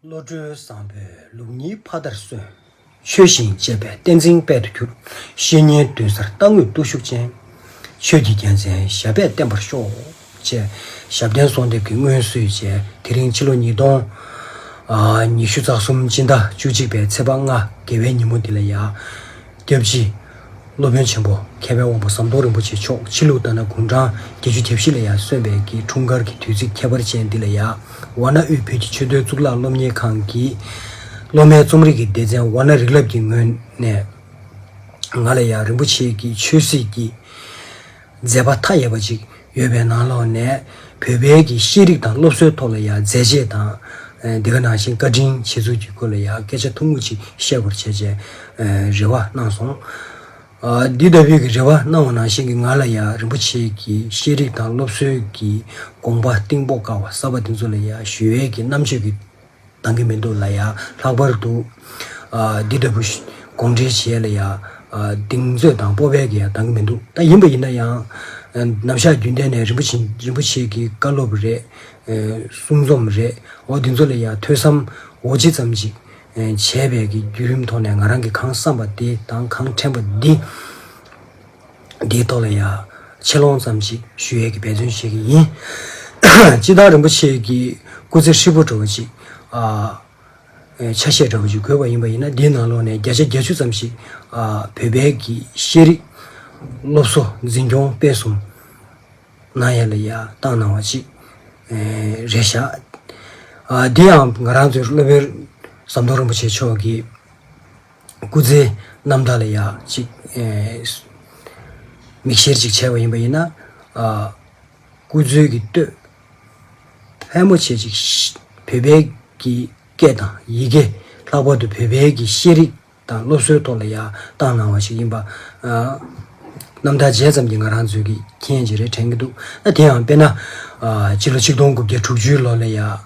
བློ་གྲོས་བཟང་པོས་ལུགས་གཉིས་ཕ་མཐར་སོན། ཆོས་བཞིན་སྤྱད་པས་བསྟན་འཛིན་དཔལ་དུ་གྱུར། བཤེས་གཉེན་བདུན་སར་རྟག་ངུས་བརྟུལ་ཞུགས་ཅན། ཆོས་ཀྱི་རྒྱལ་མཚན་ཞབས་པད་བརྟན་པར་ཤོག། ཅེས་ཞབས་བརྟན་གསོལ་འདེབས་ཀྱི་སྔོན་བསུས་བཅས་དེ་རིང་ཕྱི་ལོ་ཉིས་སྟོང། ཉི་ཤུ་རྩ་གསུམ་སྤྱི་ཟླ་བཅུ་གཅིག་པའི་ཚེས་པ་ལྔ་དགེ་བའི་ཉིན་མོ་འདི་ལ་ཡ། སྐྱབས་རྗེ། སློབ་དཔོན་ཆེན་པོ་མཁས་པའི་དབང་པོ་ཟམ་གདོང་རིན་པོ་ཆེ་མཆོག་ཕྱི་ལུགས་ལྟར་ན་དགུང་གྲངས་བརྒྱད་ཅུ་གྱ་བཞི་ལ་ཡང་སོན་པའི་གི་འཁྲུངས་སྐར་གྱི་དུས་ཚིགས་ཁྱད་པར་ཅན་འདི་ལ་ཡ་ཝཱ་ན་དབུས་བོད་ཀྱི་ཆོས་དོན་གཙུག་ལག་སློབ་གཉེར་ཁང་གི་སློབ་མའི་རྩོམ་རིག་གི་སྡེ་ཚན་ཝཱ་ན་རིག་རླབས་ཀྱི་ངོས་ནས་ང་ལ་ཡང་རིན་པོ་ཆེ་གི་ཆོས་སྲིད་ཀྱི་མཛད་པ་མཐའ་ཡས་པ་ཅིག་ཡོད་པའི་ནང་ལོགས་ནས་བོད་པའི་གི་ཤེས་རིག་དང་སློབ་གསོའི་ཐོག་ལ་ཡང་མཛད་རྗེས་དང། འདི་ག་ནང་བཞིན་བཀའ་དྲིན་བྱེད་ཚུལ་གྱི་སྐོར་ལ་ཡང་སྐད་ཆ་ཐུང་ངུ་ཅིག་བཤད་བར་བྱེད་ཅེས་རེ་བ་གནང་སོང། འདི་ལྟ་བུའི་གི་རེ་བ་གནང་བ་ནང་བཞིན་གྱི་ང་ལ་ཡང་རིན་པོ་ཆེའི་གི་ཤེས་རིག་དང་སློབ་གསོའི་གི་དགོངས་པ་གཏིང་དཔོག་དཀའ་བ་གསར་པ་འདི་ཚོ་ལ་ཡང་ཞུ་ཡས་ཀྱི་རྣམ་དཔྱོད་ཀྱི་འདང་གི་མི་འདུག་ལ་ཡང་ལྷག་པར་དུ། འདི་ལྟ་བུ། དགོངས་འགྲེལ་བྱེད་ལ་ཡང། གདེང་ཚོད་དང་སྤོབས་པས་ཀྱི་ཡང་འདང་གི་མི་འདུག་ད་ཡིན་པ་ཡིན་ན་ཡང། ནམ་ཞག་རྒྱུན་ལྡན་ནས་རིན་པོ་ཆེ་རིན་པོ་ཆེ་གི་བཀའ་སློབ་རེད། གསུང་རྩོམ་རེད་འོ་འདི་ཚོ་ལ་ཡང་ཐོས་བསམ་འོ་ཇི་ཙམ་ཅིག། བྱས་པས་ཀྱི་བརྒྱུད་རིམ་ཐོག་ནས་ང་རང་གི་གང་བསམ་པ་དེ་དང་གང་དྲན་པ་འདི། འདིའི་ཐོག་ལ་ཡང་ཆེ་ལོང་ཙམ་ཞིག་ཞུ་ཡས་ཀྱི་འབད་བརྩོན་བྱེད་ཀྱི་ཡིན། སྤྱི་བདག་རིན་པོ་ཆེ་ཀྱི་སྐུ་ཚེ་ཧྲིལ་པོ་འགྲོ་བ་ཅིག་ཆ་ཤས་འདྲ་བོ་ཞིག་དགོས་པ་ཡིན་པ་ཡིན་ན་འདིའི་ནང་ལོགས་ནས་བརྒྱ་ཆ་བརྒྱ་བཅུ་ཙམ་ཞིག་བོད་པའི་གི་ཤེས་རིག་སློབ་གསོ་འཛིན་སྐྱོང་སྤེལ་གསུམ་གནང་ཡས་ལ་ཡ་བཏང་གནང་བ་ཅིག་རེ་བཞག་འདི་ཡང་ང་རང་ཚོའི་སློབ་དཔོན་ཟམ་གདོང་རིན་པོ་ཆེ་མཆོག་གིས། སྐུ་ཚེའི་རྣམ་དག་ལ་ཡང་གཅིག། མིག་ཤེལ་གཅིག་ཆད་པ་ཡིན་པ་ཡིན་ན། སྐུ་ཚུལ་གྱི་གཏོས། ཕལ་མོ་ཆེ་ཅིག་བོད་པའི་གི་སྐད་དང་ཡི་གེ། ལྷག་པར་དུ་བོད་པའི་གི་ཤེས་རིག་དང་སློབ་གསོའི་ཐོག་ལ་ཡང་བཏང་གནང་བ་ཞིག་ཡིན་པ། རྣམ་ཐར་མཇལ་ཙམ་གྱིས་ང་རང་ཚོའི་གི་མཁྱེན་གྱིས་རེ་དྲན་གྱི་འདུག་ན་དེའང་དཔེར་ན། སྤྱི་ལོ་ཆིག་སྟོང་དགུ་བརྒྱ་དྲུག་ཅུའི་ལོ་ལ་ཡང།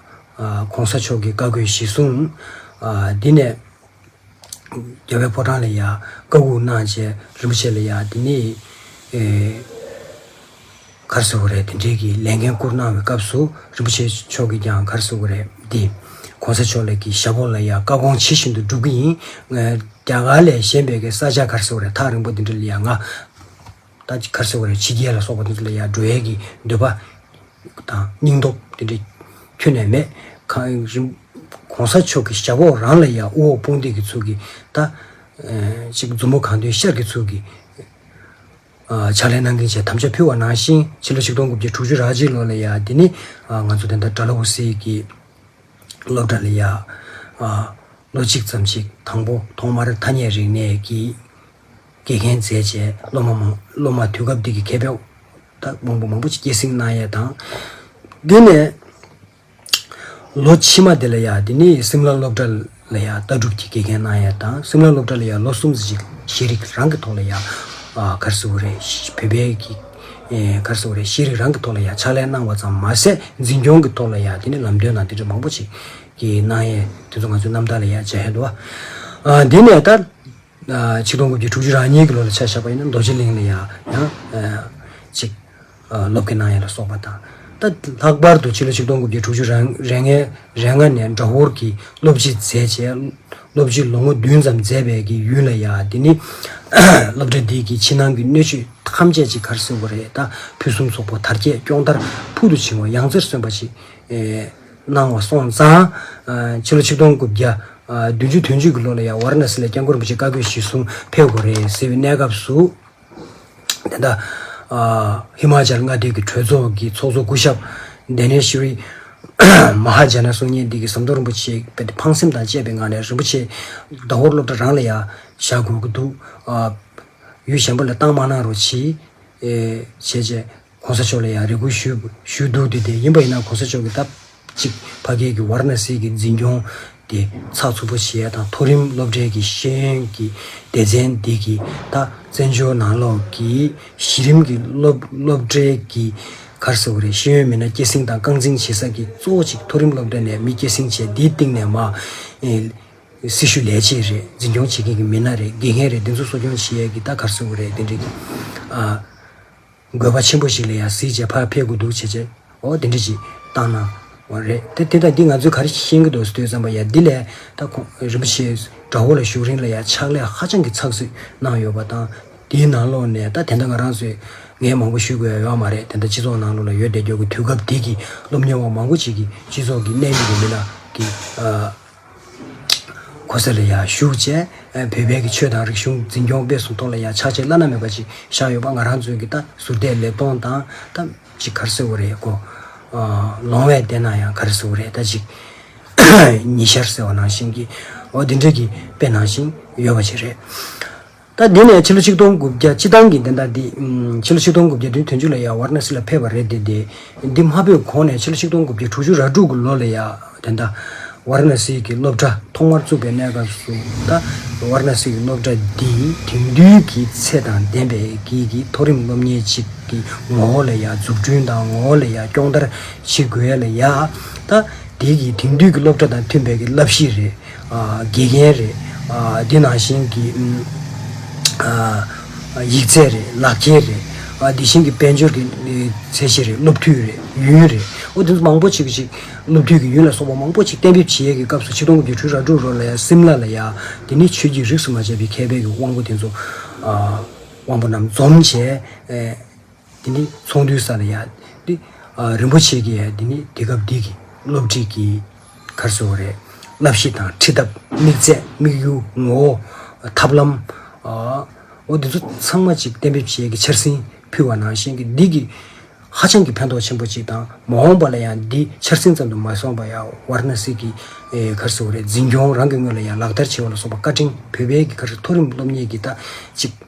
གོང་ས་མཆོག་གི་བཀའ་བསྒོས་གཞི་བཟུང། འདི་ནས། རྒྱལ་བའི་ཕོ་བྲང་ལ་ཡང་བཀའ་དབུགས་གནང་བཅས་རིན་པོ་ཆེ་ལ་ཡང་དེ་ནས་གར་གསོལ་བ་རེད་དེ་འབྲེལ་གྱི་ལས་འགན་བསྐུར་གནང་བའི་སྐབས་སུ་རིན་པོ་ཆེ་མཆོག་གིས་ཀྱང་གར་གསོལ་བ་རེད་དེ། གོང་ས་མཆོག་ལས་ཀྱི་ཞབས་འོག་ལ་ཡང་བཀའ་དགོངས་ཇི་བཞིན་དུ་སྒྲུབ་ཀྱི་ཡིན། རྒྱ་གར་ལས་གཞན་པའི་ཀྱི་ས་ཆ་གར་གསོལ་བ་རེད་ཐག་རིང་པོ་དེ་འདྲ་ལ་ཡང་ང། ད་ཅི་ཁར་སེར་བ་ལས་ཕྱི་རྒྱལ་ལ་སོགས་པ་འདི་ཚོ་ལ་ཡང་འགྲོ་ཡས་ཀྱི་འདོད་པ། དང་སྙིང་སྟོབས་འདི་འདྲ་ཁྱོན་ནས་མེད། གང། གོང་ས་མཆོག་གི་ཞབས་འོག་རང་ལ་ཡང་དབུ་འོག་དཔུང་འདེགས་ཀྱི་ཚུལ་གྱིས་ད། ཅིག་མཛུབ་མོ་གང་འདུལ་ཤར་གྱི་ཚུལ་གྱིས། ཕྱག་ལས་གནང་གིན་བྱས་ཐམས་ཅད་ཕུལ་བ་ནང་བཞིན་ཕྱི་ལོ་ཆིག་སྟོང་དགུ་བརྒྱ་དྲུག་ཅུ་རག་གཅིག་ལོ་ལ་ཡང་འདི་ནི། ང་ཚོ་དེ་ཟླ་དགྲ་ལ་འུར་ཟེར་གྱི། སློབ་གྲྭ་ལ་ཡང། ལོ་གཅིག་ཙམ་ཞིག་དང་པོ་ཐོག་མར་ཐ་སྙད་རིག་གནས་ཀྱི། དགེ་རྒན་མཛད་བཅས་སློབ་མ་མང་སློབ་མ་དུས་སྐབས་དེ་གའི་མཁས་པའི་དག་དཔོན་པོ་མང་པོ་ཆེ་སྐྱེད་སྲིང་གནང་ཡས་དང། དེ་ནས་ལོ་ཕྱི་མ་དེ་ལ་ཡང་དེ་ནས་སིམ་ལ་སློབ་གྲྭ་ལ་ཡང་ལྟ་གྲུབ་ཀྱི་དགེ་རྒན་གནང་ཡས་དང་སིམ་ལ་སློབ་གྲྭ་ལ་ཡང་ལོ་གསུམ་ཟིག་ཤེས་རིག་རང་གི་ཐོག་ལ་ཡང་གར་སི་བོ་རེད་བོད་པའི་གར་སི་བོ་རེད་ཤེས་རིག་རང་གི་ཐོག་ལ་ཡང་ཕྱག་ལས་གནང་བ་ཙམ་མ་ཟད་འཛིན་སྐྱོང་གི་ཐོག་ལ་ཡང་དེ་ནས་ལམ་སྟོན་དང་དེ་འདྲ་མང་པོ་ཆེ་གནང་ཡས་དེ་ཚོ་ང་ཚོའི་རྣམ་ཐར་ལ་ཡང་མཇལ་ཡས་འདུག་བ། དེ་ནས་ད། ཆིག་སྟོང་དགུ་བརྒྱ་དྲུག་ཅུ་རང་ཉིད་ཀྱི་ལོ་ལ་ཆ་བཞག་པ་ཡིན་ན་རྡོ་རྗེ་གླིང་ལ་ཡང་ཡང་ཅིག་ལོ་ཀི་ནང་ཡ་ལ་སོགས་པ་དང། ད་ལྷག་པར་དུ་ཕྱི་ལོ་ཆིག་སྟོང་དགུ་བརྒྱ་དྲུག་ཅུ་རེ་ལྔའི་རེ་ལྔ་ནས་འདྲ་བོར་གྱི་སློབ་སྤྱི་མཛད་ཅེས་སློབ་སྤྱི་ལོ་ངོ་བདུན་ཙམ་མཛད་པའི་གི་ཡུན་ལ་ཡང་འདི་ནི་སློབ་གྲྭ་འདི་གི་ཕྱི་ནང་གི་སྣོད་བཅུད་ཐམས་ཅད་ཅིག་གར་སེར་བོ་རེ་ད་ཕུན་སུམ་ཚོགས་པོ་དར་རྒྱས་སྐྱོང་དར་ཕུག་ཏུ་ཕྱིན་བ་ཡང་རྩེར་སོན་པ་ཅིག་གནང་བ་སོང་ཙང། ཕྱི་ལོ་ཆིག་སྟོང་དགུ་བརྒྱ། བདུན་ཅུ་དོན་བཅུ་གྱི་ལོ་ལ་ཡང་ཝར་ན་སི་ལ་སྐྱབས་མགོན་རིན་པོ་ཆེ་བཀའ་བསྒོས་གཞིས་སྲུང་ཕེབས་དགོས་རེད་ཟེར་བའི་གནས་སྐབས་སུ། དེ་ལྟ། ཧི་མ་ཅལ་མངའ་སྡེ་གྱི་གྲོས་ཚོགས་ཀྱི་ཚོགས་གཙོ་སྐུ་ཞབས། Dhaneshri Mahajana། གསུང་སྙན་འདི་གའི་ཟམ་གདོང་རིན་པོ་ཆེ་བས་ཕངས་སེམས་དང་བཅས་པའི་ངང་ནས་རིན་པོ་ཆེ། ཟླ་ཧོར་སློབ་གྲྭ་རང་ལ་ཡང་བཞག་དགོས་ཀྱི་འདུག། ཡུལ་གཞན་པ་ལ་བཏང་མ་གནང་རོགས་གྱིས། བྱས་རྗེས། གོང་ས་མཆོག་ལ་ཡང་རེ་སྐུལ་ཞུས་འདུག་དེ་དེ་ཡིན་པ་ཡིན་ན་གོང་ས་མཆོག་གིས་སྟབས་གཅིག་ཕ་སྐད་ཀྱི་ཝར་ན་སི་གི་འཛིན་སྐྱོང་དེ་ཚགས་ཚུད་པོ་བྱས་དང་མཐོ་རིམ་སློབ་གྲྭའི་གི་ཤེས་ཡོན་གྱི་སྡེ་ཚན་དེ་གི་ད་བཙན་བྱོལ་ནང་ལོགས་ཀྱི་གཞི་རིམ་གྱི་སློབ་གྲྭའི་གི་གར་ཟེར་བ་རེད་ཤེས་ཡོན་མི་སྣ་སྐྱེད་སྲིང་དང་རྐང་འཛིན་བྱེད་ས་གི་གཙོ་བོ་གཅིག་མཐོ་རིམ་སློབ་གྲྭ་ནས་མི་སྐྱེད་སྲིང་བྱས་དེའི་སྟེང་ནས་མ་སྲི་ཞུ་ལས་བྱེད་རེད་འཛིན་སྐྱོང་བྱེད་མཁན་གྱི་མི་སྣ་རེད་དགེ་རྒན་རེད་དེ་ཚོ་གསོ་སྐྱོང་བྱེད་ཡས་གི་ད་གར་ཟེར་བ་རེད་དེ་འདྲ་གི་ཨ། དགོས་པ་ཆེན་པོ་ཞིག་ལ་ཡང་གཟིགས་བྱེད་ཕར་ཕེབས་དགོས་འདུག་བྱས་རྗེས་འོ་དེ་འདྲ་ཞིག་བཏང་ན། འོ་རེད་དེ་དང་འདི་ང་ཚོས་ག་རེ་ཤེས་ཀྱི་འདུག་ཟེར་དུས་བསམ་པ་ཡ་འདི་ལས་ད་ཁོང་རིན་པོ་ཆེའི་དགྲ་བོ་ལ་བཞུགས་རིང་ལ་ཡང་ཕྱག་ལས་ཧ་ཅང་གི་ཚགས་ཚུད་གནང་ཡོད་པ་དང་དེའི་ནང་ལོགས་ནས་ད་དེ་འདྲ་ང་རང་ཚོས་ངས་མང་པོ་ཞུས་དགོས་ཡ་ཡོད་མ་རེད་དེ་འདྲ་སྤྱི་ཚོགས་ནང་ལོགས་ལ་ཡོད་བསྡད་རྒྱུ་གི་དུས་སྐབས་དེ་གི་སློབ་གཉེར་བ་མང་པོ་ཅིག་གིས་སྤྱི་ཚོགས་ཀྱི་གནས་ཡུལ་དེ་མི་ལ་གི། ཁོ་ཚེ་ལ་ཡང་བཞུགས་བཅས་བོད་པའི་གི་ཆོས་དང་རིག་གཞུང་འཛིན་སྐྱོང་སྤེལ་གསུམ་ཐོག་ལ་ཡང་ཕྱག་ཆེན་བླ་ན་མེད་པ་ཅིག་བཞག་ཡོད་པ་ང་རང་ཚོའི་གི་ད་ཟུར་བལྟས་ལེབ་སྟོང་དང་ད་ཅིག་གར་སེ་བོ་རེད་ཀོ། ལོང་བས་བལྟས་ན་ཡང་གར་སེ་བོ་རེད་ད་ཅིག། ཉི་ཤར་ཟེར་བ་ནང་བཞིན་གི་འོ་དེ་འདྲ་གི་དཔེ་ནང་བཞིན་ཡོད་པ་ཅིག་རེད། ད་འདི་ནས་ཕྱི་ལོ་ཆིག་སྟོང་དགུ་བརྒྱ་སྤྱི་ཐང་གི་བདེན་རྟགས་འདི། ཕྱི་ལོ་ཆིག་སྟོང་དགུ་བརྒྱ་དོན་ཐོན་ཅུ་ལ་ཡ་ཝར་ན་སི་ལ་ཕེབས་པ་རེད་དེ། འདི་མ་ཕེབས་གོང་ནས་ཕྱི་ལོ་ཆིག་སྟོང་དགུ་བརྒྱ་དྲུག་ཅུ་ར་དྲུག་གི་ལོ་ལ་ཡ་དེ་ད་ཝར་ན་སི་གི་སློབ་གྲྭ་ཐོག་མར་བཙུགས་པའི་གནས་སྐབས་སུ་ད་ཝར་ན་སི་གི་སློབ་གྲྭ་འདི་དེང་དུས་ཀྱི་ཚད་དང་ལྡན་པའི་གིག་གི་མཐོ་རིམ་སློབ་གཉེར་ཅིག་གི་ངོ་བོ་ལ་ཡ་འཛུགས་སྐྲུན་དང་ངོ་བོ་ལ་ཡ་སྐྱོང་བརྡར་བྱེད་དགོས་ལ་ཡ། ད་འདི་གིས་དེང་དུས་ཀྱི་སློབ་གྲྭ་དང་མཐུན་པའི་གི་བསླབ་གཞི་རེད། དགེ་རྒན་རེད། དེ་ནང་བཞིན་གྱི་ཡིག་ཚད་རེད། ལག་འཁྱེར་རེད། དེ་བཞིན་གྱི་དཔལ་འབྱོར་གྱི་ཚད་གཞི་རེད། སློབ་ཐུན་རེད། ཡུན་རེད། ཨོ་དེ་ཚོ་མང་པོ་ཞིག་ཅིག་སློབ་ཐུན་གྱི་ཡུན་ལ་སོགས་པ་མང་པོ་ཅིག་གཏན་འབེབས་བྱེད་ཡས་ཀྱི་སྐབས་སུ་ཆིག་སྟོང་དགུ་བཅུ་དྲུག་ར་དྲུག་རོ་ལ་ཡ་སིམ་ལ་ལ་ཡ། དེ་ནི་ཆོས་ཀྱི་རིགས་སུ་མ་ཆད་པའི་མཁས་པའི་གྱི་དབང་པོ་དེ་ཚོ་དབང་པོ་རྣམས་འཛོམས་བྱས། དེ་ནི་ཚོགས་འདུའི་ས་ལ་ཡ། ཏི། རིན་པོ་ཆེ་གི་ཡ། དེ་ནི་དེ་སྐབས་འདི་གི་སློབ་ཁྲིད་ཀྱི། གར་བཟོ་བ་རེད། བསླབ་གཞི་དང་ཁྲིད་ཐབས། དམིགས་ཚད། དམིགས་ཡུལ། ངོ་བོ། ཐབས་ལམ། འོ། འདི་ཚོ་ཚང་མ་ཅིག་གཏན་འབེབས་བྱས་ཀྱི་འཆར་ཟིན་ཕུལ་བ་ནང་བཞིན་གྱི་འདི་གི། ཧ་ཅང་གི་ཕན་ཐོགས་ཆེན་པོ་ཅིག་དང་མ་འོངས་པ་ལ་ཡང་འདི་འཆར་ཟིན་ཙམ་དུ་མ་སོང་བ་ཡ། ཝར་ན་སི་གི། གར་བཟོ་བ་རེད་འཛིན་སྐྱོང་རང་གི་སྔོན་ལ་ཡ་ལག་བསྟར་བྱས་བ་ལ་སོགས་པ་བཀའ་དྲིན་བོད་པའི་གི་གར་མཐོ་རིམ་སློབ་གཉེར་གྱི་ལྟ་ཅིག།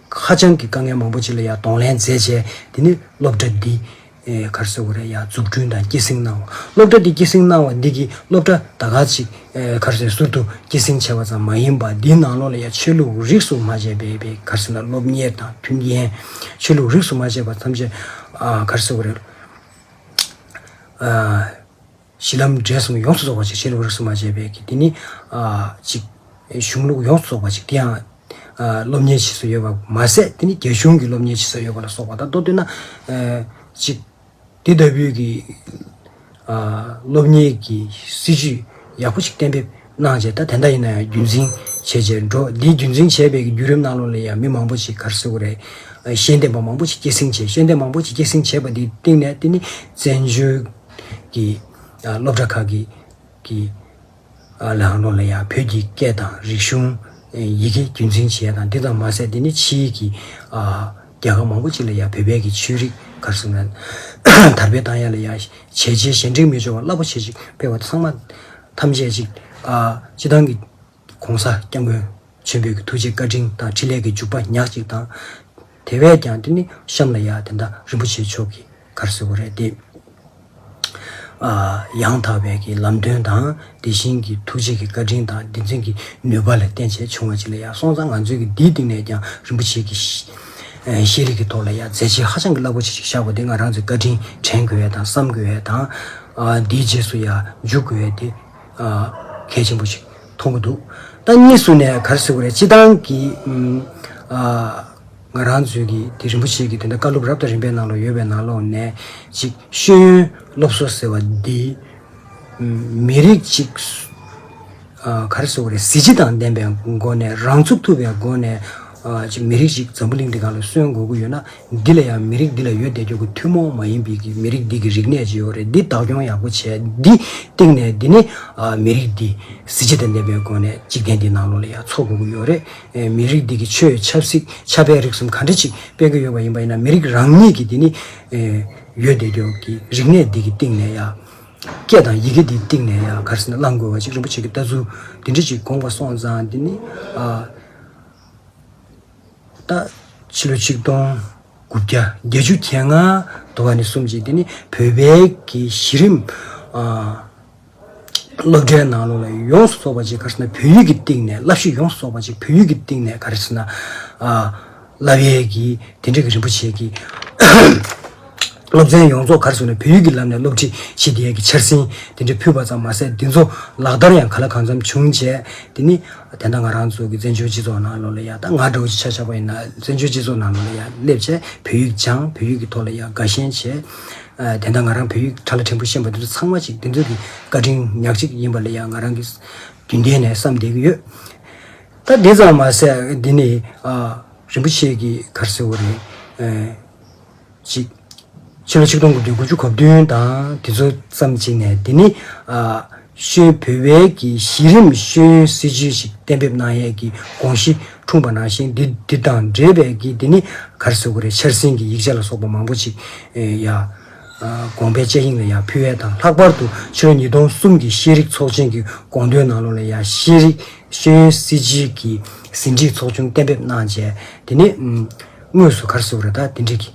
ཧ་ཅང་གི་དཀའ་ངལ་མང་པོ་ཅི་ལ་ཡང་གདོང་ལེན་མཛད་བྱས་དེ་ནི་སློབ་གྲྭ་འདི། གར་སོ་གོ་རེ་ཡ་འཛུགས་སྐྲུན་དང་སྐྱེད་སྲིང་གནང་བ། སློབ་གྲྭ་འདི་སྐྱེད་སྲིང་གནང་བ་འདི་གིས་སློབ་གྲྭ་ད་ག་ཅིག། གར་སོའི་ཟུར་དུ་སྐྱེད་སྲིང་བྱས་པ་ཙམ་མ་ཡིན་པར་འདིའི་ནང་ལོགས་ལ་ཡང་ཆོས་ལུགས་རིགས་སུ་མ་ཆད་པའི་པའི་གར་སོ་ན་སློབ་གཉེར་དང་མཐུན་རྐྱེན། ཆོས་ལུགས་རིགས་སུ་མ་ཆད་པ་ཐམས་ཅད། གར་སོ་གོ་རེ། གཞི་ལམ་འབྲས་གསུམ་གྱི་ཡོངས་སུ་རྫོགས་པ་ཅིག་བྱེད་ལུགས་རིགས་སུ་མ་ཆད་པས་ཀྱི་དེ་ནི། གཅིག། གཞུང་ལུགས་ཡོངས་སུ་རྫོགས་པ་ཅིག་དེ་ཡང། སློབ་གཉེར་བྱེད་སྲོལ་ཡོད་པ་མ་ཟད་དེ་ནི་རྒྱ་གཞུང་གི་སློབ་གཉེར་བྱེད་སྲོལ་ཡོད་པ་ལ་སོགས་པ་དང་མདོར་བསྡུས་ན། གཅིག། དེ་ལྟ་བུའི་ཀྱི། སློབ་གཉེར་གྱི་སྲིད་བྱུས་ཡག་པོ་ཞིག་གཏན་འབེབས་གནང་བྱས་ད་དེ་འདྲ་ཡིན་ན་ཡང་རྒྱུན་འཛིན་བྱེད་བྱེད་འགྲོ་འདིའི་རྒྱུན་འཛིན་བྱས་པའི་ཀྱི་བརྒྱུད་རིམ་གནང་ལུགས་ལ་ཡང་མི་མང་པོ་ཞིག་གར་སོས་ཀྱི་རེད། ཤེས་ལྡན་པ་མང་པོ་ཞིག་སྐྱེད་སྲིང་བྱས་ཤེས་ལྡན་མང་པོ་ཞིག་སྐྱེད་སྲིང་བྱས་པ་དེའི་སྟེང་ནས་དེ་ནི་བཙན་བྱོལ། ཀྱི་སློབ་གྲྭ་ཁག་གི་གི་ལའང་སློབ་ལ་ཡང་བོད་ཀྱི་སྐད་དང་རིག་གཞུང། ཡི་གེ་རྒྱུན་འཛིན་བྱས་དང་འདི་ཙམ་མ་ཟད་འདི་ནི་ཕྱིའི་གི་རྒྱལ་ཁབ་མང་པོ་ཅིག་ལ་ཡང་བོད་པའི་གི་ཆོས་རིག་གར་སོང་ན་དར་སྤེལ་བཏང་ཡ་ལ་ཡང་བྱས་རྗེས་གཞན་དྲིང་མི་འཇོག་པར་རླབས་པོ་ཆེ་ཅིག་སྤེལ་བ་ཚང་མ་ཐམས་ཅད་ཅིག་སྤྱི་བཏང་གི། ྋགོང་ས ྋསྐྱབས་མགོན་ཆེན་པོའི་ཐུགས་རྗེ་བཀའ་དྲིན་དང་འཕྲིན་ལས་ཀྱི་འཇུག་པ་ཉག་གཅིག་དང། དེ་བས་ཀྱང་འདི་ནི་གཤམ་ལ་ཡང་དེ་ལྟར་རིན་པོ་ཆེ་མཆོག་གིས་གར་ཟེར་བ་རེད་དེ། ཡང་དག་པའི་གི་ལམ་སྟོན་དང་དེ་བཞིན་གྱི་ཐུགས་རྗེ་གི་བཀའ་དྲིན་དང་བདེན་རྫུན་གྱི་ནུས་པ་ལ་བརྟེན་བྱས་བྱུང་བ་གཅིག་ལ་ཡང་སོང་ཙང་ང་ཚོའི་གི་འདིའི་སྟེང་ནས་ཀྱང་རིན་པོ་ཆེའི་གི་ཤེས་རིག་གི་ཐོག་ལ་ཡང་མཛད་རྗེས་ཧ་ཅང་གི་རླབས་པོ་ཆེ་ཞིག་བཞག་པ་འདི་ང་རང་ཚོས་བཀའ་དྲིན་དྲན་དགོས་བས་དང་བསམ་དགོས་བས་དང། འདིའི་རྗེས་སུ་ཡང་འཇུག་དགོས་བས་ཏེ། གལ་ཆེན་པོ་ཞིག་མཐོང་གི་འདུག་ད་གཉིས་སུ་ནས་ག་རེ་བཟོས་གི་རེད་སྤྱི་བཏང་གི་ང་རང་ཚོའི་གི་དེ་རིན་པོ་ཆེ་གི་དེ་འདྲ་བཀའ་སློབ་རབ་དང་རིམ་པའི་ནང་ལོག་ཡོད་པའི་ནང་ལོག་ནས་ཅིག་ཤེས་ཡོན་སློབ་གསོ་ཟེར་བ་འདི་མི་རིགས་ཅིག་ག་རེ་བཟོས་གི་རེད་གཟི་བརྗིད་དང་ལྡན་པའི་སྒོ་ནས་རང་ཚུགས་ཐུབ་པའི་སྒོ་ནས་ཅིག་མི་རིགས་ཅིག་འཛམ་བུ་གླིང་འདི་ག་ལ་གསོན་དགོས་ཀྱི་ཡོད་ན། འདི་ལ་ཡང་མི་རིགས་འདི་ལ་ཡོད་བསྡད་རྒྱུ་གི་ཐུན་མོང་མ་ཡིན་པའི་མི་རིགས་འདི་གི་རིག་གནས་ཇི་ཡོད་རེད་འདི་བདག་སྐྱོང་ཡག་པོ་བྱས་འདི་སྟེང་ནས་འདི་ནི་མི་རིགས་འདི་གཟི་བརྗིད་དང་ལྡན་པའི་སྒོ་ནས་འཇིག་རྟེན་འདི་ནང་ལོག་ལ་ཡང་འཚོ་དགོས་ཀྱི་ཡོད་རེད་མི་རིགས་འདི་གི་ཆོས་ཆབ་སྲིད་ཆབ་དཔལ་རིག་གསུམ་ག་འདྲ་ཅིག་སྤེལ་གྱི་ཡོད་པ་ཡིན་པ་ཡིན་ན་མི་རིགས་རང་ཉིད་ཀྱི་འདི་ནི་ཡོད་བསྡད་རྒྱུ་གི་རིག་གནས་འདི་གི་སྟེང་ནས་ཡང་སྐད་དང་ཡི་གེ་འདི་སྟེང་ནས་ཡང་ག་རེ་ཟེར་ན་བླང་དགོས་བ་ཅིག་རིན་པོ་ཆེ་གི་ལྟ་ཚུལ་འདི་འདྲ་ཅིག་དགོངས་པ་སོང་ཙང་འདི་ནི། ད་ཕྱི་ལོ་ཆིག་སྟོང་དགུ་བརྒྱ་བརྒྱད་ཅུ་གྱ་ལྔ་དུ་བ་ནས་གསུམ་ཅིག་དེ་ནི་བོད་པའི་གི་གཞི་རིམ་སློབ་གྲྭའི་ནང་ལོ་ལ་ཡོངས་སུ་རྫོགས་པ་ཅིག་ག་རེ་ན་བོད་ཡིག་གི་སྟེང་ནས་བསླབ་གཞི་ཡོངས་སུ་རྫོགས་པ་ཅིག་བོད་ཡིག་གི་སྟེང་ནས་ག་རེ་ཟེར་ན་བསླབ་ཡས་ཀྱི་དེ་འདྲ་གི་རིན་པོ་ཆེ་གི་སློབ་ཚན་ཡོངས་རྫོགས་གར་སོང་ནས་བོད་ཡིག་གི་ལམ་ནས་སློབ་ཁྲིད་བྱེད་བསྡད་ཀྱི་འཆར་ཟིན་དེ་འདྲ་ཕུལ་བ་ཙམ་མ་ཟད་འདི་ཚོ་ལག་བསྟར་ཡང་ག་ལ་གང་འཚམ་བྱུང་རྗེས་དེ་ནི། དེ་ན་ང་རང་ཚོ་གི་བཙན་བྱོལ་སྤྱི་ཚོགས་ནང་ལོགས་ལ་ཡང་ད་སྔ་འདྲ་བོ་ཞིག་ཆགས་ཆགས་པ་ཡིན་ན་བཙན་བྱོལ་སྤྱི་ཚོགས་ནང་ལོགས་ལ་ཡང་སླེབས་རྗེས་བོད་ཡིག་སྦྱངས་བོད་ཡིག་གི་ཐོག་ལ་ཡང་དགའ་ཞེན་བྱེད། དེ་ན་ང་རང་བོད་ཡིག་གྲྭ་ལ་ཕྲན་བུ་ཤེས་པ་འདི་ཚོ་ཚང་མ་ཅིག་འདི་ཚོ་གི་བཀའ་དྲིན་ཉག་གཅིག་ཡིན་པ་ལ་ཡང་ང་རང་གིས་རྒྱུན་ལྡན་ནས་བསམ་བསྡད་ཀྱི་ཡོད། ད་འདི་ཙམ་མ་ཟད་འདི་ནི། རིན་པོ་ཆེ་གིས་གར་ཟེར་བ་རེད། ཅིག། ཕྱི་ལོ་ཆིག་སྟོང་དགུ་བརྒྱ་དགུ་ཅུ་གོ་བདུན་དང་དེ་ཚོ་ཙམ་ཅིག་ནས་འདི་ནི། ཤོད་བོད་བལ་གྱི་གཞི་རིམ་ཤོད་ཡོན་སྲིད་བྱུས་ཤིག་གཏན་འབེབས་གནང་ཡས་ཀྱི་དགོངས་གཞི་འཁྲུངས་པ་ནང་བཞིན་འདི་འདི་དང་འབྲེལ་བས་ཀྱི་འདི་ནི་གར་སོད་གོ་རེ་འཆར་ཟིན་གྱི་ཡིག་ཆ་ལ་སོགས་པ་མང་པོ་ཅིག་ཡ། དགོངས་པའི་དཔྱད་གཡེང་ལ་ཡ་ཕུལ་བས་དང་ལྷག་པར་དུ་ཕྱི་ལོ་ཉིས་སྟོང་གསུམ་གྱི་ཤེས་རིག་ཚོགས་ཆེན་གྱི་དགོངས་དོན་ནང་ལོ་ལ་ཡ་ཤེས་རིག་ཤོད་ཡོན་སྲིད་བྱུས་ཀྱི་ཟིན་བྲིས་ཚོགས་ཆུང་གཏན་འབེབས་གནང་རྗེས་འདི་ནི། དངོས་སུ་གར་སོང་རེ་ད་དེ་འགྲིག་གི།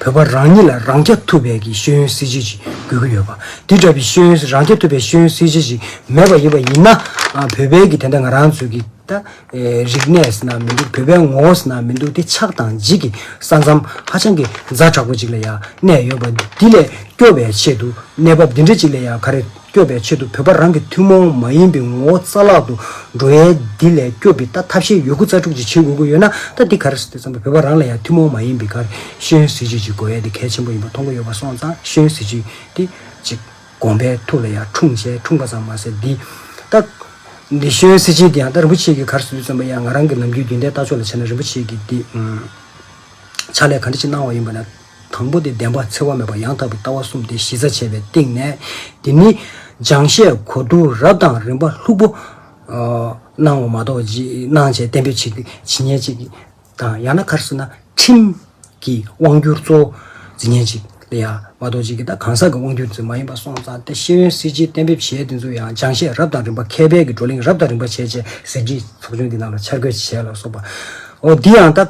བོད་པ་རང་ཉིད་ལ་རང་སྐྱ་ཐུབ་པའི་གི་ཤེས་ཡོན་སྲིད་བྱུས་ཅིག་དགོས་ཀྱི་ཡོད་པ། དེ་འདྲ་བའི་ཤེས་ཡོན་རང་སྐྱ་ཐུབ་པའི་ཤེས་ཡོན་སྲིད་བྱུས་ཅིག་མེད་པ་ཡིན་པ་ཡིན་ན། བོད་པའི་གི་དེ་འདྲ་ང་རང་ཚོའི་གི་ད་རིག་གནས་ན་མི་འདུག་བོད་པའི་ངོ་བོ་ན་མི་འདུག་དེ་ཆགས་དང་འཇིག་གི་ས་མཚམས་ཧ་ཅང་གི་རྫ་དྲག་པོ་ཅིག་ལ་ཡང་གནས་ཡོད་པ། འདི་ལས་སྐྱོབ་པའི་ཆེད་དུ་གནས་བབ་འདི་འདྲ་ཅིག་ལ་ཡང་ག་རེ། སྐྱོབ་པའི་ཆེད་དུ་བོད་པ་རང་གི་ཐུན་མོང་མ་ཡིན་པའི་ངོ་བོ་རྩ་བརླག་ཏུ་འགྲོ་ཡས་འདི་ལས་སྐྱོབ་པའི་ད་ཐབས་ཤེས་ཡོད་དགུ་རྩ་དྲུག་ཅིག་བྱེད་དགོས་ཀྱི་ཡོད་ན་ད་འདི་གར་དེ་ཙམ་པོ་བོད་པ་རང་ལ་ཡང་ཐུན་མོང་མ་ཡིན་པའི་གར་ཤེས་ཡོན་གཟི་བརྗིད་ཅིག་དགོས་ཡས་འདི་གལ་ཆེན་པོ་ཡིན་པ་མཐོང་གི་ཡོད་པ་སོང་ཙང་ཤེས་ཡོན་གཟི་བརྗིད་འདི་ཅིག་དགོངས་པའི་ཐུགས་ལ་ཡང་འཁྲུངས་བྱས་འཁྲུངས་པ་ཙམ་མ་ཟད་འདི་ད། འདི་ཤེས་ཡོན་གཟི་བརྗིད་འདི་ཡང་ད་རིན་པོ་ཆེ་གི་གར་ཟུད་ཙམ་པོ་ཡང་ང་རང་གི་ལམ་རྒྱུད་རྒྱུན་ལྡན་ལྟ་ཕྱོགས་ལ་བྱས་ན་རིན་པོ་ཆེ་གི་འདི་ཕྱག་ལས་ག་འདྲི་ཅིག་གནང་བ་ཡིན་པ་ན། དང་པོ་སྟེ་བདེན་པ་འཚེ་བ་མེད་པ་ཡང་དག་པའི་ལྟ་བ་གསུམ་སྟེ་གཞི་རྩ་བྱས་པའི་སྟེང་ནས། འདི་ནི་སྦྱང་བཤད་གོ་བསྡུར་རབ་དང་རིམ་པ་ལྷུག་པོ། སྣང་བ་མ་གཏོགས་རྗེས་གནང་བྱས་གཏན་འབེབས་ཇི་སྙེད་ཅིག་དང་ཡང་ན་ཁར་སོང་ན་ཁྲིམས་ཀྱི་དབང་བསྒྱུར་གཙོ་བོ་ཇི་སྙེད་ཅིག་ལ་ཡང་མ་གཏོགས་ཅིག་གིས་དང་གང་ཟག་གི་དབང་བསྒྱུར་མ་ཡིན་པ་སོང་ཙང་སྟེ་ཤེས་ཡོན་སྲིད་སྤྱིའི་གཏན་འབེབས་བྱས་དེ་ཚོ་ཡང་སྦྱང་བཤད་རབ་དང་རིམ་པ་མཁས་པའི་གི་བགྲོ་གླེང་རབ་དང་རིམ་པ་བྱས་བྱས་ཟེར་གྱི་ཚོགས་ཆུང་འདི་ནང་ལ་འཆར་འགོད་བྱས་ལ་སོགས་པའོ། འདི་ཡང་ལྟ།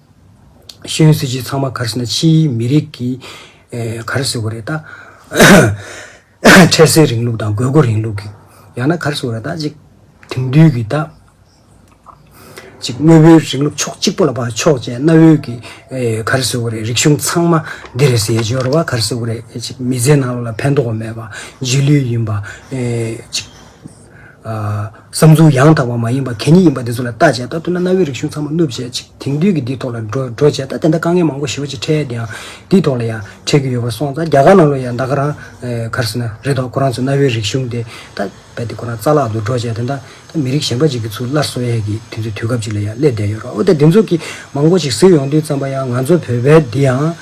ཤེས་ཡོན་སྲིད་བྱུས་ཚང་མ་གར་ཟེར་ན་ཕྱིའི་མི་རིགས་ཀྱིས་གར་ཟེར་བ་རེད་ད། འཕྲལ་སེལ་རིང་ལུགས་དང་དགོས་མཁོ་རིང་ལུགས་ཀྱིས་ཡང་ན་གར་ཟེར་བ་རེད་ད། གཅིག་དེང་དུས་ཀྱི་ད། གཅིག་དངོས་པོའི་རིང་ལུགས་ཕྱོགས་གཅིག་པོ་ལ་བར་ཕྱོགས་ཅན་གནའ་བོའི་གི་གར་ཟེར་བ་རེད་རིག་གཞུང་ཚང་མ་འདི་རེད་ཟེར་ཡས་སྦྱོར་བ་གར་ཟེར་བ་རེད་གཅིག་མི་ཚེའི་ནང་ལ་ཕན་ཐོགས་མེད་པ་རྗེས་ལུས་ཡིན་པ། གཅིག། བསམ་ཚུལ་ཡང་དག་པ་མ་ཡིན་པ་གད་སྙིགས་ཡིན་པ་འདི་ཚོ་ལ་ལྟ་བྱས་ད་ཐུག་ན་གནའ་བོའི་རིག་གཞུང་ཚང་མ་བསྣུབས་བྱས་ཅིག་དེང་དུས་ཀྱི་འདིའི་ཐོག་ལ་འགྲོ་འགྲོ་བྱས་ད་དེ་འདྲ་དཀའ་ངལ་མང་པོ་ཞི་བ་ཅིག་འཕྲད་དེ་ཡང་འདིའི་ཐོག་ལ་ཡང་འཕྲད་རྒྱུ་ཡོད་པ་སོང་ད་རྒྱ་གར་ནང་ལོ་ཡང་ད་ག་རང་གར་སོང་ན་རེད་དོ་ཁོ་རང་ཚོ་གནའ་བོའི་རིག་གཞུང་དེ་ད་རྦད་དེ་ཁོ་རང་རྩ་བརླག་ཏུ་འགྲོ་བྱས་དེ་འདྲ་ད་མི་རིགས་གཞན་པ་ཅིག་གི་ཚུར་སླར་སོང་ཡས་ཀྱི་དུས་ཚོད་དུས་སྐབས་ཅིག་ལ་ཡང་སླེབས་བསྡད་ཡོད་རོགས་འོ་ད་འདི་ཚོ་གི་མང་པོ་ཅིག་གཟིགས་ཡོང་དུས་བརྩམས་པ་ཡང་ང་ཚོ་བོད་པའི་འདི་ཡང།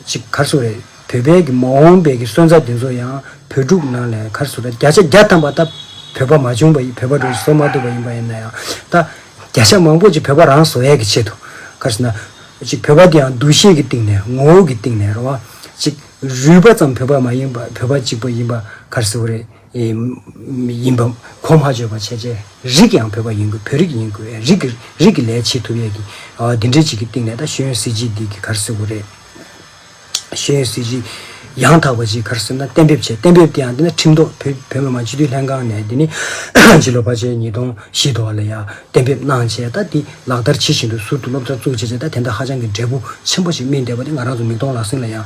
གཅིག་མཁར་ཟུར་རེད། བོད་པའི་གི་མ་འོངས་པའི་གི་སོན་རྩ་དེ་ཚོ་ཡང་བོད་ཕྲུག་ནང་ལས་མཁར་ཟུར་ར་བརྒྱ་ཆ་བརྒྱ་ཐམ་པ་ད་བོད་པ་མ་བྱུང་བ་ཡིན་བོད་པ་འགྲོ་བཟོ་མ་ཐུབ་པ་ཡིན་པ་ཡིན་ན་ཡང་ད་བརྒྱ་ཆ་མང་པོ་ཅིག་བོད་པ་རང་བཟོ་ཡས་གི་ཆེད་དུ་མཁར་ཟུར་ན་གཅིག་བོད་པ་དེ་ཡང་འདུ་ཤེས་གི་སྟེང་ནས་ངོ་བོ་གི་སྟེང་ནས་རང་དབང་གཅིག་རུས་པ་ཙམ་བོད་པ་མ་ཡིན་པ་བོད་པ་གཅིག་པ་ཡིན་པ་མཁར་ཟུར་རེད། ཡིན་པ། གོ་མ་བརྗོད་པར་བྱས་རྗེས་རིགས་ཀྱང་བོད་པ་ཡིན་དགོས་བོད་རིགས་ཡིན་དགོས་ཡ་རིགས་ཀྱི་རིགས་ཀྱི་ལས་བྱེད་ཐུབ་ཡས་ཀྱི། འདི་འདྲའི་བྱེད་ཀྱི་སྟེང་ནས་ད་ཤེས་ཡོན་སྲིད་བྱིས་འདི་གི་གར་སོད་གོ་རེད། ཤེས་ཡོན་སྲིད་བྱིས་ཡང་དག་པ་ཅིག་གར་སོད་ན་གཏན་འབེབས་བྱས་གཏན་འབེབས་དེ་ཡང་འདི་ན་ཁྲིམས་ཐོག་བོད་བོད་མི་མང་སྤྱི་འཐུས་ལྷན་ཁང་ནས་འདི་ནི་ཕྱི་ལོ་བར་ཆད་ཉིས་སྟོང་བཞི་དོ་ལ་ཡང་གཏན་འབེབས་གནང་བྱས་ད་འདི་ལག་བསྟར་བྱེད་བཞིན་འདུག་ཟུར་དུ་སློབ་གྲྭ་བཙུགས་བྱས་བྱས་ད་དེ་འདྲ་ཧ་ཅང་གི་འབྲས་བུ་ཆེན་པོ་ཞིག་སྨིན་བསྡད་པ་འདི་ང་རང་ཚོ་མིག་མཐོང་ལག་ཟིན་ལ་ཡང།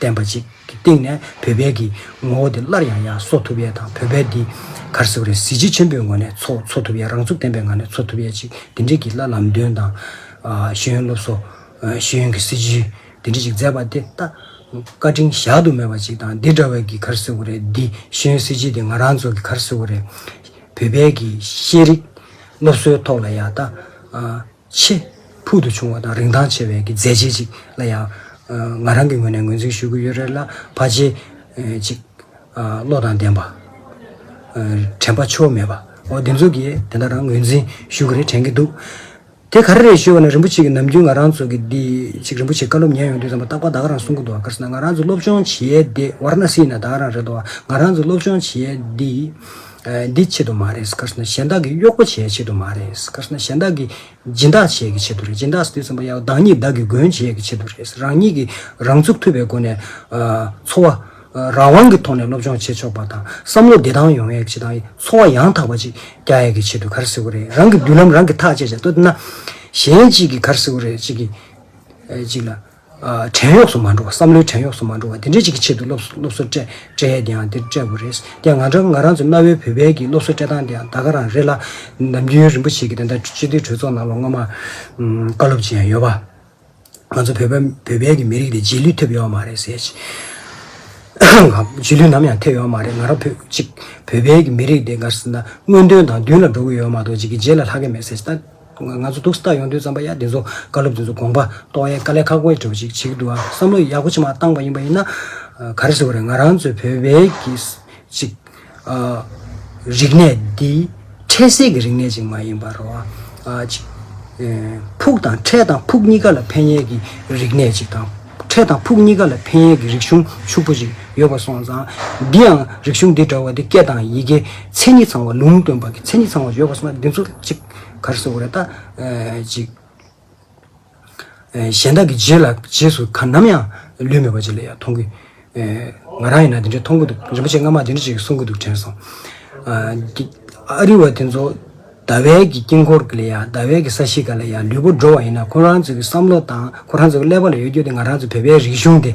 བསྟན་པ་ཅིག་གི་སྟེང་ནས་བོད་པའི་གི་ངོ་བོ་དེ་སླར་ཡང་ཡང་གསོ་ཐུབ་ཡས་དང་བོད་པའི་འདི་གར་གཟིགས་རེ་གཟི་བརྗིད་ཆེན་པོའི་ངོ་ནས་འཚོ་འཚོ་ཐུབ་ཡས་རང་ཚུགས་ལྡན་པའི་ངང་ནས་འཚོ་ཐུབ་ཡས་ཅིག་འདི་འདྲིས་གི་ལ་ལམ་སྟོན་དང། ཤེས་ཡོན་སློབ་གསོ། ཤེས་ཡོན་གི་སྲིད་བྱུས་འདི་འདྲིས་ཅིག་མཛད་པ་དེ་ལྟ་བཀའ་དྲིན་བཞག་ཏུ་མེད་པ་ཅིག་དང་འདི་འདྲ་བའི་གི་གར་གཟིགས་བོ་རེ་འདི་ཤེས་ཡོན་སྲིད་བྱུས་འདི་ང་རང་ཚོ་གི་གར་གཟིགས་བོ་རེ་བོད་པའི་གི་ཤེས་རིག་སློབ་གསོའི་ཐོག་ལ་ཡང་ད། ཆེས་ཕུལ་དུ་བྱུང་བ་དང་རིན་ཐང་ཆེ་བའི་གི་མཛད་རྗེས་ཅིག་ལ་ཡང། ང་རང་གི་ངོས་ནས་ངོས་འཛིན་ཞུ་གི་ཡོད་རེད་ལ་བ་རྗེ། ཅིག། བློ་དང་ལྡན་པ། དྲན་པ་ཆོ་མེད་པ། འོ་འདི་ཚོ་གིས་དེ་འདྲ་རང་ངོས་འཛིན་ཞུ་གི་རེད་དྲན་གི་འདུག། དེ་ག་རེ་རེད་ཞུས་བ་ནི་རིན་པོ་ཆེ་གི་ནམ་རྒྱུན་ང་རང་ཚོ་གི་འདི། ཅིག་རིན་པོ་ཆེ་བཀའ་སློབ་ཉན་ཡོང་དུས་ཙམ་པ་ཏག་པ་ད་ག་རང་གསུང་གི་འདུག་བ་ག་རེ་ཟེར་ན་ང་རང་ཚོ་སློབ་སྦྱོང་བྱེད་ཡས་དེ་ཝར་ན་སྲིད་ན་ད་ག་རང་རེད་འདུག་བ་ང་རང་ཚོ་སློབ་སྦྱོང་བྱེད་ཡས་འདི། འདི་ཆེད་དུ་མ་རེད་སྐར་ན་གཞན་དག་གི་གཡོག་པོ་བྱེད་ཆེད་དུ་མ་རེད་སྐར་ན་གཞན་དག་གི་སྦྱིན་བདག་བྱེད་ཀྱི་ཆེད་དུ་རེད་སྦྱིན་བདག་སྡུད་ཟིན་པ་ཡང་བདག་ཉིད་བདག་གི་མགོན་བྱེད་ཀྱི་ཆེད་དུ་རེད་རང་ཉིད་ཀྱི་རང་ཚུགས་ཐུབ་པའི་སྒོ་ནས་འཚོ་བ་རང་དབང་གི་ཐོག་ནས་སློབ་སྦྱོང་བྱེད་ཆོག་པ་དང་བསམ་བློ་བདེ་ཐང་ཡོང་ཡག་ཅིག་དང་འཚོ་བ་ཡང་དག་པ་ཅིག་རྒྱག་ཡག་གི་ཆེད་དུ་གར་སེ་གོ་རེད་རང་གི་མདུན་ལམ་རང་གིས་ཐག་བཅད་བྱ་འདོད་ན་གཞན་གཅིག་གིས་གར་སེ་གོ་རེད་ཅིག་གིས་ཅིག་ལ། བྲན་གཡོག་སུ་མ་འགྲོ་བ་བསམ་བློའི་བྲན་གཡོག་སུ་མ་འགྲོ་བ་འདི་འདྲ་ཅིག་གི་ཆེད་དུ་སློབ་གསོ་སྤྲད་འདི་འདྲ་ཡང་སྤྲད་དགོས་རེད་དེ་ང་འདྲ་ང་རང་ཚོ་གནའ་བོའི་བོད་བལ་གྱི་སློབ་གསོ་སྤྲད་སྟངས་དེའང་ད་ག་རང་རེད་ལ། ནམ་རྒྱུན་རིན་པོ་ཆེ་གི་དེ་འདྲ་སྤྱི་འཐུས་གྲོས་ཚོགས་ནང་ལ་སྔོན་མ་བཀའ་སློབ་སྤྱི་ཡང་ཡོད་པ། ང་ཚོ་བོད་བལ་གྱི་མི་རིགས་དེ་རྗེས་ལུས་ཐེབས་ཡོད་མ་རེད་ཟེར་གྱི། རྗེས་ལུས་ནམ་ཡང་ཐེབས་ཡོད་མ་རེད་ང་རང་ཕུད་ཅིག་བོད་བལ་གྱི་མི་རིགས་དེ་ག་རེ་ཟེར་ན་དངོས་དོན་དང་མདུན་ལ་འགྲོ་གི་ཡོད་མ་གཏོགས་ཅིག་གི་རྗེས་ལ་ལྷག་གི་མེད་ཟེར་གྱི། ང་ཚོ་སྡུག་སྟག་ཡོང་དུས་རྩམ་པ་ཡ་འདི་ཚོ་བཀའ་སློབ་འདི་ཚོ་དགོངས་པ་རྟོགས་ཡས་དཀའ་ལས་ཁག་པོ་འདྲ་བོ་ཞིག་བྱེད་ཀྱི་འདུག་ཨང་བསམ་བློ་ཡག་པོ་ཆེ་མ་བཏང་པ་ཡིན་པ་ཡིན་ན། ག་རེ་ཟེར་བ་རེད་ང་རང་ཚོའི་བོད་པའི་གི་ཅིག། རིག་གནས་འདི་འཕྲལ་གསལ་གྱི་རིག་གནས་ཅིག་མ་ཡིན་པར། ཅིག། ཕུགས་དང་འཕྲལ་དང་ཕུགས་གཉིས་ཀ་ལ་ཕན་ཡས་ཀྱི་རིག་གནས་ཅིག་དང། འཕྲལ་དང་ཕུགས་གཉིས་ཀ་ལ་ཕན་ཡས་ཀྱི་རིག་གཞུང་ཕྱུག་པོ་ཅིག་ཡོད་པ་སོང་ཙང། འདི་ཡང་རིག་གཞུང་འདི་འདྲ་བ་འདི་སྐད་དང་ཡི་གེ་མཚན་ཉིད་ཚང་བ་ལུང་སྟོན་པ་གི་མཚན་ཉིད་ཚང་བ་ཡོད་པ་སོང་ན་འདི་ཚོ་ཅིག། གར་སོགས་རེ་ལྟ། ཅིག། གཞན་དག་གི་རྗེས་ལ་རྗེས་སུ་གར་ནམ་ཡང་ལུས་མེད་པ་ཅིག་ལ་ཡང་མཐོང་གི། ང་རང་ཡིན་ན་འདི་འདྲའི་མཐོང་གི་འདུག་རིན་པོ་ཆེ་སྔ་མ་འདི་འདྲ་ཅིག་གསུང་གི་འདུག་དྲན་སོང། ཨ་རི་བ་དེ་ཚོ་ཟླ་བས་ཀྱི་དཀྱིལ་འཁོར་གྱི་ལ་ཡང་ཟླ་བས་ཀྱི་ས་གཞི་ག་ལ་ཡང་ལུས་པོ་འགྲོ་བ་ཡིན་ན་ཁོ་རང་ཚོའི་བསམ་བློ་དང་ཁོ་རང་ཚོའི་ཀླད་པ་ལ་ཡོད་རྒྱུ་དེ་ང་རང་ཚོའི་བོད་པའི་རིག་གཞུང་དེ།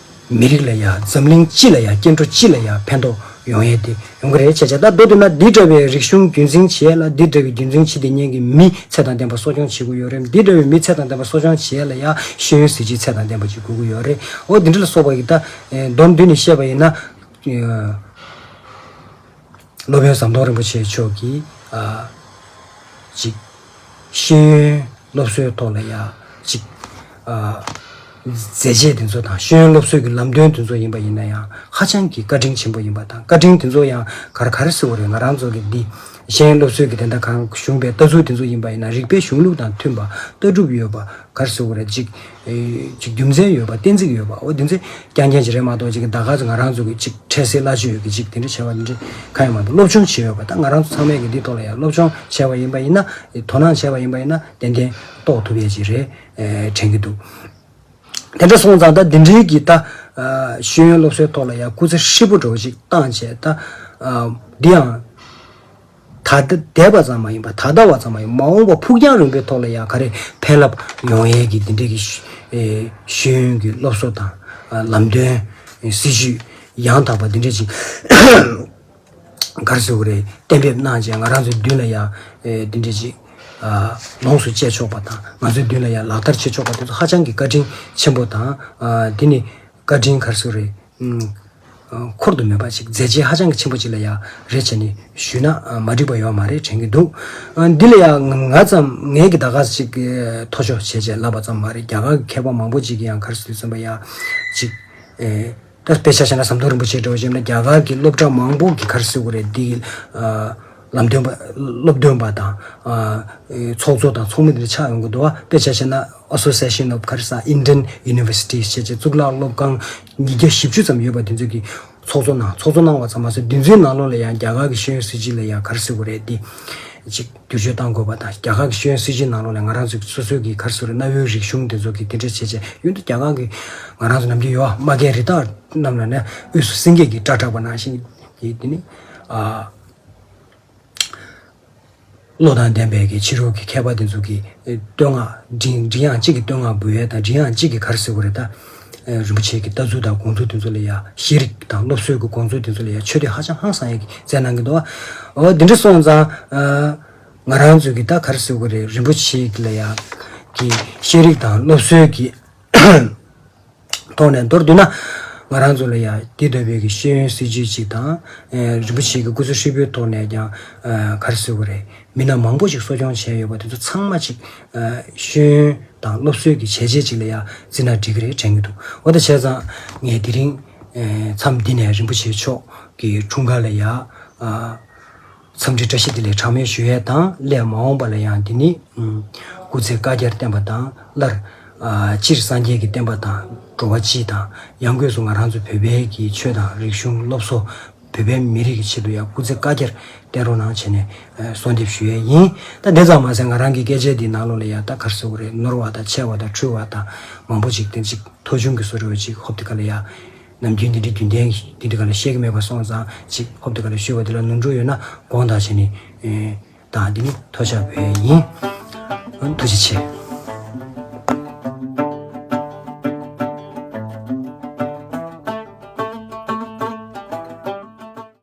མི་རིགས་ལ་ཡང་འཛམ་གླིང་སྤྱི་ལ་ཡང་སྐྱེ་འགྲོ་སྤྱི་ལ་ཡང་ཕན་ཐོགས་ཡོང་ཡས་དེ་ཡོང་གི་རེད་བྱས་བྱས་ད་མདོ་སྟོད་ན་འདི་འདྲ་བའི་རིག་གཞུང་རྒྱུན་འཛིན་བྱས་ལ་འདི་འདྲ་བའི་རྒྱུན་འཛིན་བྱེད་དེ་ཉན་གི་མི་ཚད་དང་ལྡན་པ་གསོ་སྐྱོང་བྱེད་དགོས་ཡོད་རེད་འདི་འདྲ་བའི་མི་ཚད་དང་ལྡན་པ་གསོ་སྐྱོང་བྱས་ལ་ཡང་ཤེས་ཡོན་གཟི་བརྗིད་ཚད་དང་ལྡན་པ་ཞིག་དགོས་ཀྱི་ཡོད་རེད་ཨོ་འདི་འདྲ་ལ་སོགས་པ་ཡིག་ད་མདོར་མདུན་ནས་བཤད་པ་ཡིན་ན། སློབ་དཔོན་ཟམ་གདོང་རིན་པོ་ཆེ་མཆོག་གིས། གཅིག། ཤེས་ཡོན་སློབ་གསོའི་ཐོག་ལ་ཡང་གཅིག། མཛད་རྗེས་དེ་ཚོ་དང་ཤེས་ཡོན་སློབ་གསོའི་གྱི་ལམ་སྟོན་དེ་ཚོ་ཡིན་པ་ཡིན་ན་ཡང་ཧ་ཅང་གྱི་བཀའ་དྲིན་ཆེན་པོ་ཡིན་པ་དང་བཀའ་དྲིན་དེ་ཚོ་ཡང་གར་གར་བསིལ་བ་རེད་ང་རང་ཚོ་གི་འདི་ཤེས་ཡོན་སློབ་གསོའི་གྱི་དེ་འདྲ་གང་གཞུང་པའི་ལྟ་ཚུལ་དེ་ཚོ་ཡིན་པ་ཡིན་ན་རིགས་པའི་གཞུང་ལུགས་དང་མཐུན་པ་ལྟ་གྲུབ་ཡོད་པ་གར་བསིལ་བ་རེད་གཅིག། ཅིག་རྒྱུ་མཚན་ཡོད་པ་གཏན་ཚིགས་ཡོད་པའོ་རྒྱུ་མཚན་རྐྱང་རྐྱང་ཅིག་རེད་མ་གཏོགས་ཅིག་ཟླ་ག་ཚོད་ང་རང་ཚོ་ཅིག་འཕྲལ་སེལ་སླ་ཤོས་ཡོད་གི་ཅིག་དེ་འདྲ་བྱས་པ་འདི་འདྲ་གང་ཡང་མ་འདུག་སློབ་སྦྱོང་བྱས་ཡོད་པ་ད་ང་རང་ཚོ་ཚང་མས་ཀྱི་འདི་ཐོག་ལ་ཡང་སློབ་སྦྱོང་བྱས་པ་ཡིན་པ་ཡིན་ན་དོ་སྣང་བྱས་པ་ཡིན་པ་ཡིན་ན་ཏན་ཏན་རྟོགས་ཐུབ་ཡས་ཅིག་རེད་དྲན་གྱི་འདུག་དེ་འདྲ་སོང་ཙང་ད་འདི་འདྲིའི་གི་ད་ཤེས་ཡོན་སློབ་གསོའི་ཐོག་ལ་ཡང་སྐུ་ཚེ་ཧྲིལ་པོ་འགྲོ་ཅིག་བཏང་བྱས་ད་འདི་ཡང། ད་ལྟ་འདས་པ་ཙམ་མ་ཡིན་པར་ད་ལྟ་བ་ཙམ་མ་ཡིན་པར་མ་འོངས་པ་ཕུགས་རྒྱང་རིང་པོའི་ཐོག་ལ་ཡང་ག་རེ་ཕན་རླབས་ཡོང་ཡས་ཀྱི་འདི་འདྲའི་ཤེས་ཡོན་གྱི་སློབ་གསོ་དང། ལམ་སྟོན། སྲིད་ཇུས་ཡང་དག་པ་འདི་འདྲ་ཅིག་གར་སོ་རེ་གཏན་འབེབས་གནང་རྗེས་ང་རང་ཚོའི་མདུན་ལ་ཡང་འདི་འདྲ་ཅིག་ལོངས་སུ་སྤྱད་ཆོག་པ་དང་ང་ཚོའི་མདུན་ལ་ཡང་ལག་བསྟར་བྱེད་ཆོག་པ་དེ་ཚོ་ཧ་ཅང་གི་བཀའ་དྲིན་ཆེན་པོ་དང། དེ་ནི་བཀའ་དྲིན་གར་སོ་རེ་འཁོར་དུ་མེད་པ་ཞིག་མཛད་རྗེས་ཧ་ཅང་གི་ཆེན་པོ་ཅིག་ལ་ཡང་རེ་བྱས་ནས་ཞུས་ན་མ་འགྲིག་པ་ཡོད་མ་རེད་དྲན་གྱི་འདུག་འདི་ལ་ཡང་ང་ཙམ་ངས་ཀྱི་ད་ག་ཟེ་ཅིག་ཐོ་ཅོ་བྱས་བྱས་ལབ་པ་ཙམ་མ་རེད་རྒྱ་གར་གྱི་མཁས་པ་མང་པོ་ཅིག་གིས་ཡང་གར་སིལ་སོན་པ་ཡང་ཅིག་ཨེ། དཔེ་ཆ་བྱས་ན་ཟམ་གདོང་རིན་པོ་ཆེའི་དྲི་བ་བྱས་ན་རྒྱ་གར་གྱི་སློབ་གྲྭ་མང་པོ་གིས་གར་སིལ་བ་རེད་འདི། ལམ་སྟོན་པ། སློབ་སྟོན་པ་དང། ཚོགས་གཙོ་དང་ཚོགས་མི་དེ་ཆགས་ཡོང་གི་འདུག་དཔེ་ཆ་བཤད་ན Association of Kharsha Indian Universities བྱས་རྗེས་གཙུག་ལག་སློབ་ཁང་ཉིས་བརྒྱ་བཞི་བཅུ་ཙམ་ཡོད་པ་དེ་ཚོ་གི་ཚོགས་གཙོ་གནང་ཚོགས་གཙོ་གནང་བ་ཙམ་མ་ཟད་དེ་ཚོའི་ནང་ལོགས་ལ་ཡང་རྒྱ་གར་གི་ཤེས་ཡོན་སྲིད་སྤྱི་ལ་ཡང Kharsha བོ་རེད་དེ། ཅིག་བསྒྱུར་བཅོས་གཏང་དགོས་པ་དང་རྒྱ་གར་གི་ཤེས་ཡོན་སྲིད་སྤྱི་ནང་ལོགས་ལ་ང་རང་ཚོའི་སོ་སོའི་གི Kharsha རེད་གནའ་བོའི་རིག་གཞུང་དེ་ཚོ་གི་དེ་འདྲ་བྱས་རྗེས་གཡོན་དུ་རྒྱ་གར་གི་ང་རང་ཚོ་ནམ་རྒྱུན་ཡོ་མ་རྒན་རི་དྭགས་རྣམས་ལ་ནས་དབུས་སུ་སེང་གེ་གི་སྐྲ་གྲགས་པ་ནང་བཞིན་གྱི་དེ་ནི། བློ་དང་ལྡན་པས་ཀྱི་ཕྱི་རོལ་གྱི་མཁས་པ་དེ་ཚོ་གིས་བསྟོད་བསྔགས། མགྲིན་དབྱངས་གཅིག་གིས་བསྟོད་བསྔགས་འབུལ་ཡས་དང་མགྲིན་དབྱངས་གཅིག་གིས་གར་གཟིགས་འོ་རེད་ད། རིན་པོ་ཆེ་གི་ལྟ་ཚུལ་དང་དགོངས་ཚུལ་དེ་ཚོ་ལ་ཡ། ཤེས་རིག་དང་སློབ་གསོའི་གི་དགོངས་ཚུལ་དེ་ཚོ་ལ་ཡ་ཆོས་དེ་ཧ་ཅང་ཧང་སང་ཡས་ཀྱི་མཛད་གནང་གི་འདུག་ཨ། འོ་དེ་འདྲ་སོང་ཙང། ང་རང་ཚོས་ཀྱི་ད་གར་གཟིགས་འོ་རེད་རིན་པོ་ཆེ་གི་ལ་ཡ། གི་ཤེས་རིག་དང་སློབ་གསོའི་གི། ཐོག་ནས་མདོར་བསྡུས་ན། ང་རང་ཚོ་ལ་ཡང་དེ་ལྟ་བུའི་ཤེས་ཡོན་སྲིད་ཇུས་ཅིག་དང། རིན་པོ་ཆེའི་སྐུ་ཚེ་ཧྲིལ་པོའི་ཐོག་ནས་ཀྱང་ག་རེ་ཟེར་བ་རེད། མི་སྣ་མང་པོ་ཞིག་གསོ་སྐྱོང་བྱས་ཡོད་པ་དེ་ཚོ་ཚང་མ་ཅིག། ཤེས་ཡོན་དང་སློབ་གསོའི་གི་བྱས་རྗེས་ཅིག་ལ་ཡང་བརྩིས་ན་འགྲིག་གི་རེད་དྲན་གྱི་འདུག་འོ་ད་བྱས་ཙང། ངས་དེ་རིང། མཚམས་འདི་ནས་རིན་པོ་ཆེ་མཆོག་གི་འཁྲུངས་སྐར་ལ་ཡང། འཚམས་འདྲི་བཀྲ་ཤིས་བདེ་ལེགས་གྲངས་མེད་ཞུ་ཡས་དང་སླད་མ་འོངས་པ་ལ་ཡང་འདི་ནི། སྐུ་ཚེ་བསྐལ་བརྒྱར་བརྟན་པ་དང་སླར། སྤྱིར་སངས་རྒྱས་ཀྱི་བསྟན་པ་དང་འགྲོ་བ་སྤྱི་དང་ཡང་སྒོས་སུ་ང་རང་ཚོ་བོད་པའི་གི་ཆོས་དང་རིག་གཞུང་སློབ་གསོ། བོད་པའི་མི་རིགས་ཀྱི་ཆེད་དུ་ཡང་སྐུ་ཚེ་བསྐལ་བརྒྱར་བརྟན་རོགས་གནང་བྱས་ནས་གསོལ་འདེབས་ཞུ་ཡས་ཡིན། ད་དེ་ཙམ་མ་ཟད་ང་རང་གི་སྐད་ཆའི་འདིའི་ནང་ལོགས་ལས་ཡང་ད་གར་སེའུ་རེ་ནོར་བ་དང་ཆད་བ་དང་འཁྲུལ་བ་དང་མང་པོ་ཅིག་དེ་གཅིག་མཐོ་ཆུང་གི་སོ་རེ་བ་ཅིག་ཧོབ་དེ་ག་ལ་ཡ། ནམ་རྒྱུན་འདི་འདྲའི་རྒྱུན་ལྡན་གྱི་འདི་འདྲའི་ག་ལ་བཤད་ཀྱི་མེད་པ་སོང་ཙང་ཅིག་ཧོབ་ཏུ་ག་ལ་བཞུར་བ་དེ་ལ་ནོར་འཁྲུལ་ཡོད་ན་དགོངས་དག་བྱས་ནས་དང་འདི་ནི་ཐོ་ཆག་བས་ཡིན། ཐུགས་རྗེ་ཆེ།